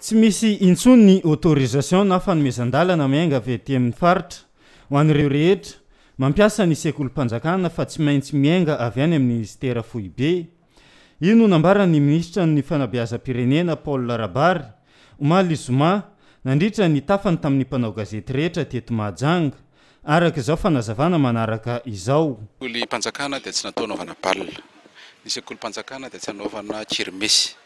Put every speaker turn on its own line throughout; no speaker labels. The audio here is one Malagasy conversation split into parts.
Tsy misy intsony ny autorisation na fanomezan-dalana miainga avy aty amin'ny faritra ho an'ireo rehetra mampiasa ny sekolim-panjakana fa tsy maintsy miainga avy any amin'ny minisitera foibe. Io no nambaran'ny minisitra ny fanabeazam-pirenena Paul Rabary omaly zoma nandritra ny tafany tamin'ny mpanao gazety rehetra teto Mahajanga araka izao fanazavana manaraka izao. Sekolim-panjakana dia
tsy natao hanaovana bal. Ny sekolim-panjakana dia tsy hanaovana kirmesy.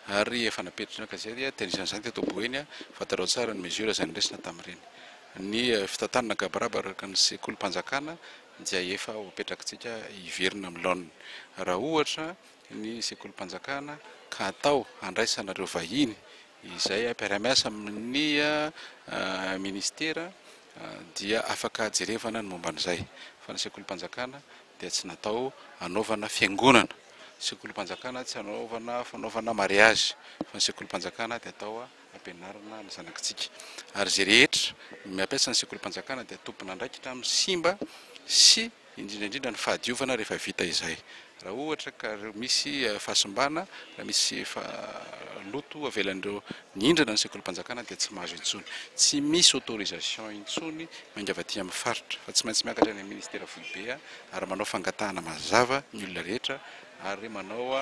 ary efa napetraka gazety dia nisy an'izany teto Boeny fantarao tsara ny mesure izay noraisina tamin'ireny. Ny fitantanana gabaraba araka ny sekolim-panjakana dia efa ho apetrakitsika hiverina amin'ny laoniny. Raha ohatra ny sekolim-panjakana ka atao handraisana ireo vahiny izay mpiara-miasa amin'ny minisitera dia afaka jerevana ny momba an'izay fa ny sekolim-panjakana dia tsy natao hanaovana fiangonana. Sekolim-panjakana tsy anaovana fanaovana mariazy fa ny sekolim-panjakana dia atao ampianarana ny zanakitsika ary izay rehetra miampiasa ny sekolim-panjakana dia tompon'andraikitra amin'ny simba sy indrindra indrindra ny fahadiovana rehefa vita izay raha ohatra ka misy fahasimbana raha misy fa loto avelan'ireo nihindrana ny sekolim-panjakana dia tsy mahazo intsony tsy misy autorisation intsony miangavy aty amin'ny faritra fa tsy maintsy miakatra any amin'ny ministera foibe ary manao fangatahana mazava ny olona rehetra ary manao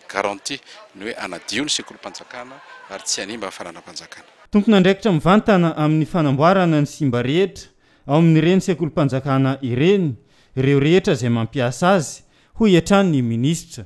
garantie ny hoe hanadio ny sekolim-panjakana ary tsy hanimba ny fananam-panjakana. Tompon'andraikitra
mivantana amin'ny fanamboarana ny simba rehetra ao amin'ireny sekolim-panjakana ireny ireo rehetra izay mampiasa azy, hoy hatrany ny minisitra.